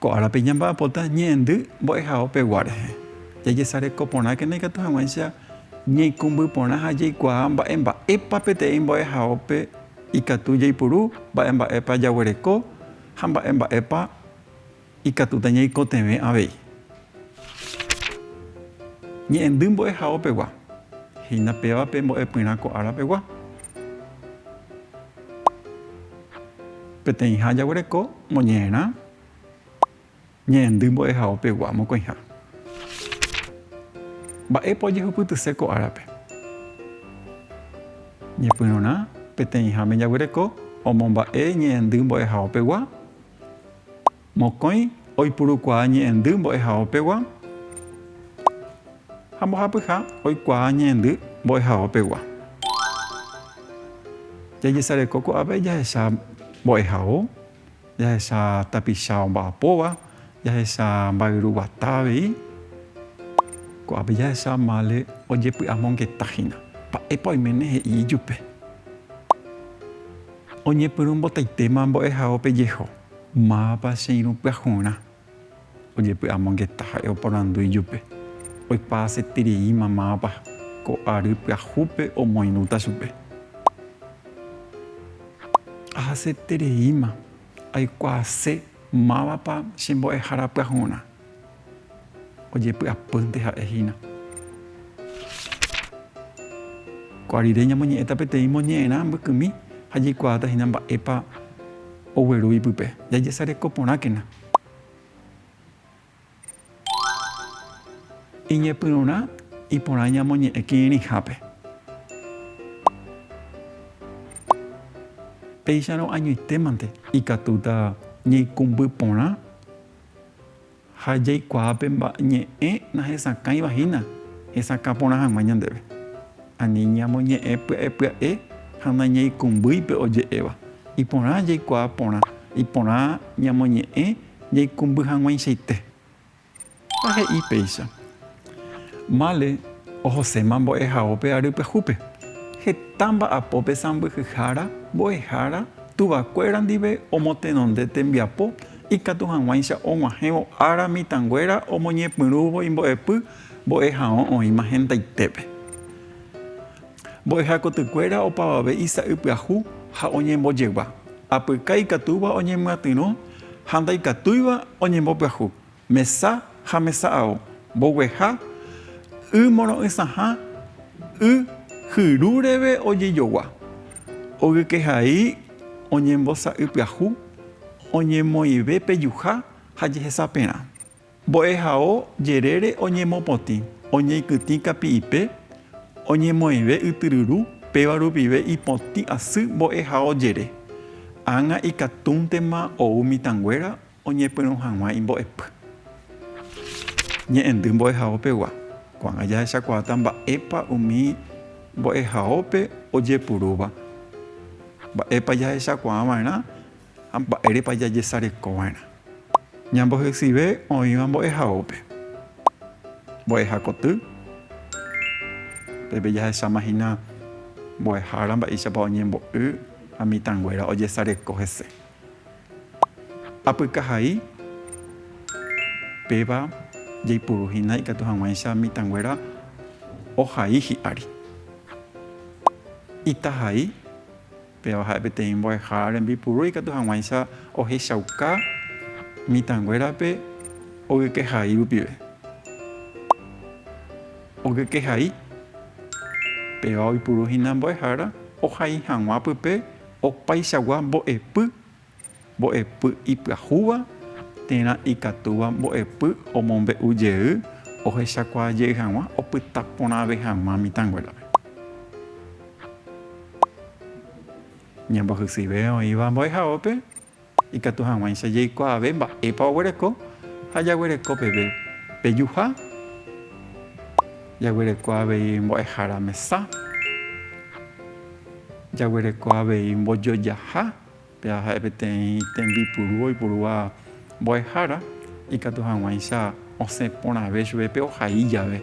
Ko árape ñamba'apóta ñe'ẽndy mbo'ehao pegua rehe. Jajesareko porãkena ikatu hag̃uáicha ñaikũmby porã ha jaikuaa mba'e mba'épa peteĩ mbo'ehaópe ikatu jaipuru, mba'e mba'épa jaguereko ha mba'e mba'épa Ikatúta ñaikotevẽ avei. Ñe'ẽndy mbo'ehaópegua. Hína péva pe mbo'epyrã ko árapegua. Peteĩha jaguereko moñe'ẽrã ñe'ẽndy mbo'ehaópegua mokõiha. Mba'épa ojehupytyse ko árape? Ñepyrũrã peteĩháme jaguereko omomba'e ñe'ẽndy mbo'ehaópegua Mokõi oipurukuaa ñe'ẽndy mbo'ehaópegua ha mbohapyha oikuaa ñe'ẽndy mbo'ehaópegua. Jajesareko ko'ápe jahecha mbo'ehao, jahecha tapicha omba'apóva, jahecha mba'yru guata avei. Ko'ápe jahecha mále ojepy'amongeta hína. Mba'épa oiméne he'i ijupe? Oñepyrũmbotaitéma mbo'ehaópe jeho, mávapa che irũ pyahurã? Ojepy'amongeta ha'e oporandu ijupe. Oipa asetereíma mávapa ko ary pyahúpe omoirũta chupe. Ahasetereíma aikuaase mávapa che mbo'ehára pyahurã. Ojepy'apýnte ha'e hína. Ko'ã rire ñamoñe'ẽta peteĩ moñe'ẽrã mbykymi ha jaikuaáta hína mba'épa ogueru ipype. Jajesareko porãkena. Iñepyrũrã iporã ñamoñe'ẽ kirirĩhápe. Péicharõ añoitémante ikatúta ñaikũmby porã. Ha jaikuaa pe ñe'ẽ nahesakãiva hína hesakã porã hag̃ua ñandéve. Ani ñamoñe'ẽ pya'epya'e ha nañaikumbýi pe oje'éva. Iporã jaikuaa porã, iporã ñamoñe'ẽ jaikumby hag̃uaichaite. Ha he'i péicha. Male ohoséma mbo'ehaópe ary pyahúpe, heta mba'apópe sãmbyhyhára, mbo'ehára, tuvakuéra ndive omotenonde tembiapo ikatu hag̃uáicha og̃uahẽvo ára mitãnguéra omoñepyrũvo imbo'epy mbo'ehaõ oĩma hentaitépe. Mbo'ehakotykuéra opavave isa'ypyahu ha oñembojegua, apyka ikatúva oñemyatyrõ ha ndaikatúiva oñembopyahu. Mesa ha mesa ao, mbogueha, y moro'ysãha, y hyru reve ojejogua, ogykeha'i oñembosa'ypyahu, oñemoĩve pejuha ha jehesaperã, mbo'ehao jerére oñemopotĩ, oñeikytĩ kapi'ipe, oñemoĩve ytyryru, péva rupive ipotĩ asy mbo'ehao jere, ág̃a ikatúntema ou mitãnguéra Oñepyrũ hag̃ua imbo'epy. Ñe'ẽndy mbo'ehaópegua. Ko'ág̃a jahechakuaáta mba'épa umi mbo'ehaópe ojepurúva, mba'épa jahechakuaava'erã ha mba'érepa jajesarekova'erã. Ñambohesyive oĩva mbo'ehaópe. Mbo'ehakoty, Pépe jahecháma hína mbo'ehára mba'éichapa oñembo'y ha mitãnguéra ojesareko hese. Apykahai, Péva jaipuru hína ikatu hag̃uáicha mitãnguéra ohai hi'ári. Itahai, Péva ha'e peteĩ mbo'eha rembipuru ikatu hag̃uáicha ohechauka mitãnguérape ogykeha'i rupive. Ogykeha'i, Péva oipuru hína mbo'ehára ohai hag̃ua pype Opaichagua mbo'epy, mbo'epy ipyahúva térã ikatúva mbo'epy omombe'u jey ohechakuaa jey hag̃ua opyta porãve hag̃ua mitãnguérape. Ñambohysýive oĩva mbo'ehaópe Ikatu hag̃uáicha jaikuaave mba'épa oguereko ha jaguereko peve pejuha. Jaguereko avei mbo'ehára mesa. Jaguereko avei mbojojaha, péva ha'e peteĩ tembipuru oipurúva mbo'ehára, ikatu hag̃uáicha osẽ porãve chupe pe ohai jave.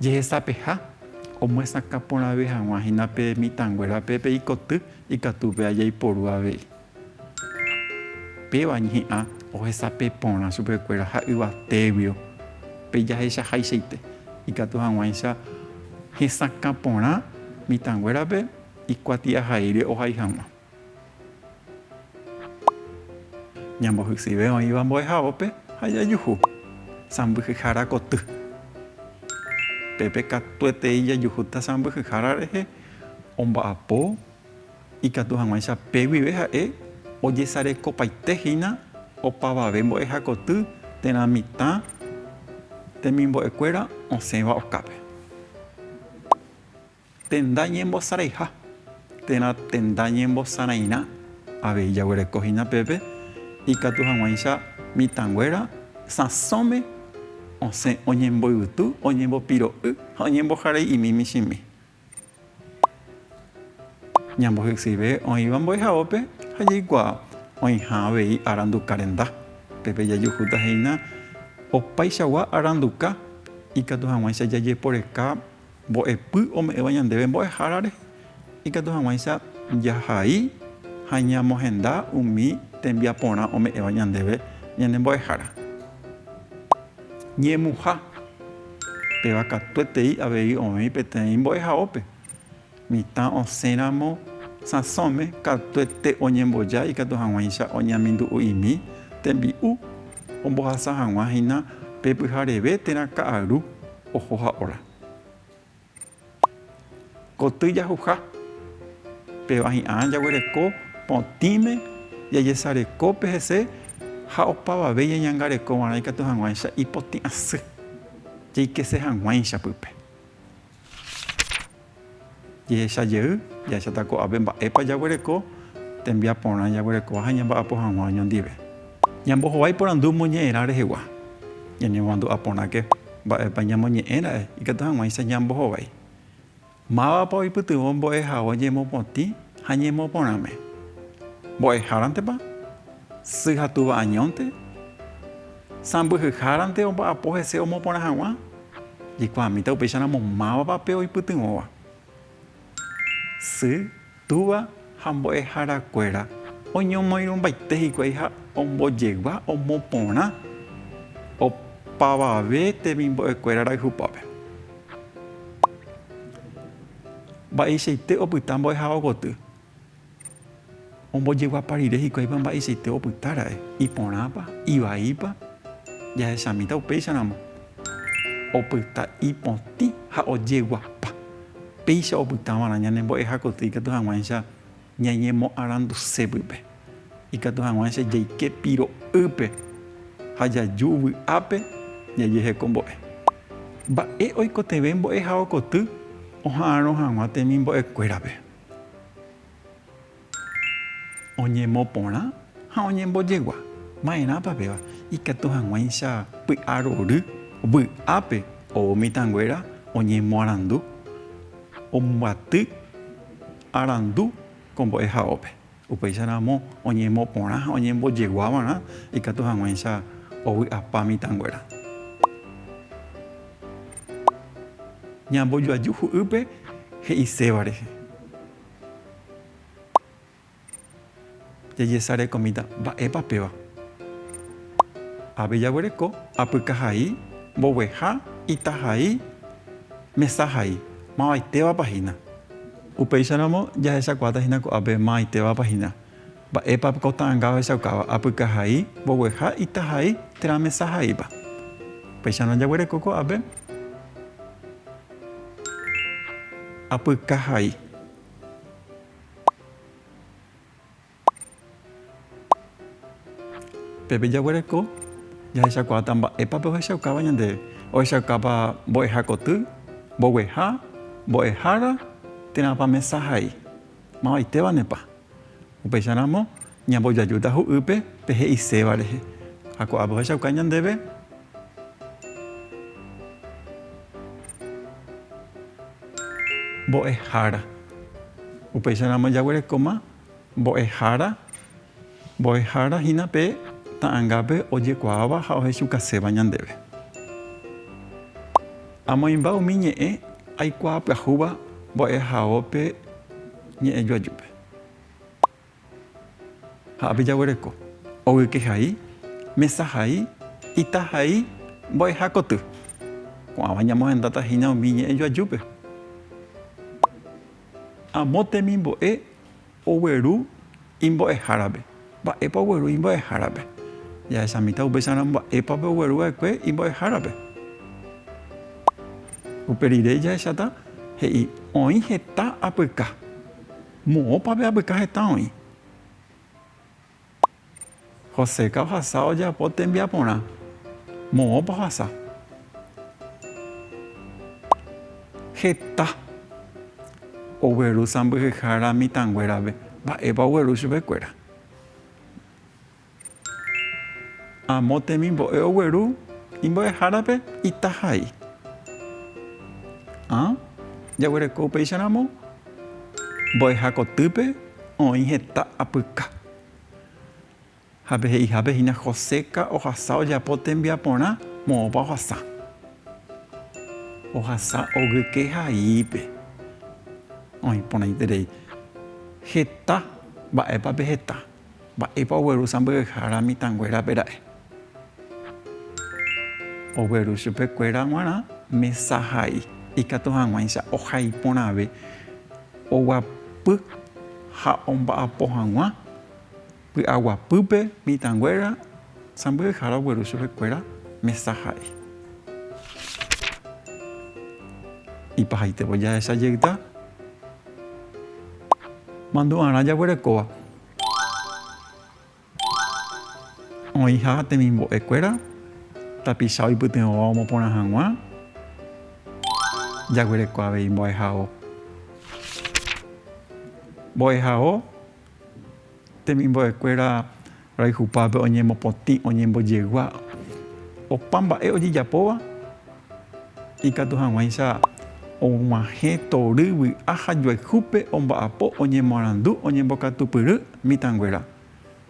Jehesapeha, omyesakã porãve hag̃ua hína pe mitãnguérape pe ikoty. Ikatu pe ajaiporu avei. Péva ñe'ã ohesape porã chupekuéra ha yvatéguio pe jahechahaichaite. Ikatu hag̃uáicha hesakã porã mitãnguérape ikuatiahaíre ohai hag̃ua. Ñambohysive oĩva mbo'ehaópe ha jajuhu sãmbyhyhára koty. Pépe katuetei jajuhúta sãmbyhyhára rehe omba'apo ikatu hag̃uáicha pe guive ha'e ojesarekopaite hína opavave mbo'ehakoty térã mitã temimbo'ekuéra osẽva okápe. Tenda ñembosaraiha térã tenda ñembosarãirã avei jaguereko hína pépe ikatu hag̃uáicha mitãnguéra sãsõme osẽ oñemboyvytu, oñembopiro'y ha oñemboharei'imi michĩmi. Ñambohysyive oĩva mbo'ehaópe ha jaikuaa oĩha avei aranduka renda. Pépe jajuhúta hína opaichagua aranduka ikatu hag̃uáicha jajeporeka mbo'epy ome'ẽva ñandéve Mbo'ehára rehe, ikatu hag̃uáicha jahai ha ñamohenda umi tembiaporã ome'ẽva ñandéve ñane Mbo'ehára. Ñemuha. Péva katuetei avei oĩ peteĩ mbo'ehaópe. Mitã osẽ ramo sãsõme katuete oñemboja ikatu hag̃uáicha oñeamindu'u'imi tembi'u ombohasa hag̃ua hína pe pyhareve térã ka'aru oho ha óra. Koty jahuha, péva hi'ã jaguereko potĩme jajesareko pe hese ha opavave ñañangareko va'erã ikatu hag̃uáicha ipotĩ asy, jaikese hag̃uáicha pype. Jehecha jey, jahecháta ko'ápe mba'épa jaguereko tembiaporã jaguerekova ha ñamba'apo hag̃ua oñondive. Ñambohovái porandu moñe'ẽrã rehegua, ñanemomandu'a porãke. Mba'épa ñamoñe'ẽ ra'e ikatu hag̃uáicha ñambohovái? Mávapa oipytyvõ mbo'ehao ñemopotĩ ha ñemoporãme? Mbo'ehárantepa? Sy ha túva añónte? Sãmbyhyhárante omba'apo hese omoporã hag̃ua? Jaikuaamíta upéicharamo mávapa pe oipytyvõva. Sy. Túva ha mbo'eharakuéra oñomoirũmbaite hikuái ha ombojegua omo porã opavave temimbo'ekuéra rayhupápe. Mba'eichaite opyta mbo'ehaóvo koty. Ombojeguapa rire hikuáipa mba'eichaite opyta ra'e, iporãpa, ivaípa, jahechamíta upéicharamo. Opyta ipotĩ ha ojeguapa. Péicha opytáva'erã ñanembo'ehakotýi ikatu hag̃uáicha ñañemoaranduse pype, ikatu hag̃uáicha jaike piro'ýpe ha jaju vy'ápe jajeheko mbo'e. Mba'e oikotevẽ mbo'ehaokoty oha'arõ hag̃ua temimbo'ekuérape? Oñemoporã ha oñembojegua. Ma'erãpa péva? Ikatu hag̃uáicha py'arory vy'ápe ou mitãnguéra oñemoarandu, ombyaty arandu ko mbo'ehaópe. Upéicharamo oñemoporã ha oñembojegua va'erã ikatu hag̃uáicha ovy'apa mitãnguéra. Ñambojoaju hu'ýpe he'iséva rehe. Jejesarekomíta, mba'épa péva? Ave jaguereko apyka hai, mbogueha, ita hai, mesa hai. Mavaitévapa hína? Upéicharamo jahechakuaáta hína ko'ápe mavaitévapa hína. Mba'épa ko ta'anga ohechaukáva apykahai, mbogueha, itahai térã mesahaíva? Upéicha ndajaguereko ko'ápe apykahai. Pépe jaguereko jahechakuaáta mba'épa pe ohechaukáva ñandéve. Ohechaukápa mbo'eha koty, mbogueha, mbo'ehára térãpa mesahai. Mavaitévanepa? Upéicharamo ñambojajúta hu'ýpe pe he'iséva rehe, ha ko'ápe ohechauka ñandéve mbo'ehára. Upéicharamo jaguerekóma mbo'ehára, mbo'ehára hína pe ta'angápe ojekuaáva ha ohechukaséva ñandéve. Amoĩmba umi ñe'ẽ aikuaapyahúva mbo'ehaópe. Ñe'ẽju ajúpe. Ha ápe jaguereko. Ogyke hai, mesa hai, ita hai, mbo'eha koty. Ko'ãva ñamohendáta hína umi ñe'ẽju ajúpe. Amo temimbo'e ogueru. Imbo'ehárape. Mba'épa ogueru imbo'ehárape? Jahechamíta upéicharõ mba'épape ogueru va'ekue imbo'ehárape. Upe rire jahecháta he'i, Oĩ heta apyka. Moõpa pe apyka heta oĩ? Joséka ohasa ojapo tembiaporã. Moõpa ohasa? Heta. Ogueru sãmbyhyhára mitãnguérape. Mba'épa ogueru chupekuéra? Amo temimbo'e ogueru imbo'ehárape ita hai. Ha jaguereko upéicharamo mbo'eha kotýpe oĩ heta apyka. Ha pe he'ihápe hína Joséka ohasa ojapo tembiaporã moõpa ohasa. Ohasa ogyke haípe. Oĩ porãiterei heta mba'épa pe heta, mba'épa ogueru sãmbyhyhára mitãnguérape ra'e. Ogueru chupe kuéra guarã mesa ha'i ikatu haguãicha ohai porãve oguapy ha omba'apo haguã py'aguapýpe mitã guéra sãmbyhyhára ogueru chupe kuéra mesa ha'i. Ipahaitévo jahecha jeyta mandu'arã jaguerekóva. Oĩha temimbo'e kuéra, tapicha oipytyvõva omoporã hag̃ua, jaguereko avei mbo'ehao. Mbo'ehao temimbo'e kuéra roayhupápe oñemopotĩ, oñembojegua, opa mba'e ojejapóva ikatu hag̃uáicha og̃uahẽ tory, vy'a ha joayhúpe omba'apo, oñemoarandu, oñembokatupyry. Mitãnguéra,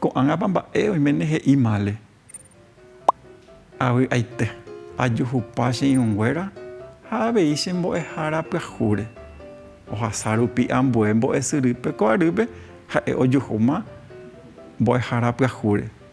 ko'ágãpa mba'e oiméne he'i mále. Avy'aite, ajuhupa che irũnguéra ha avei che mbo'ehára pyahúre. Ohasa rupi ambue mbo'esyrýpe ko arýpe ha'e ojuhúma mbo'ehára pyahúre.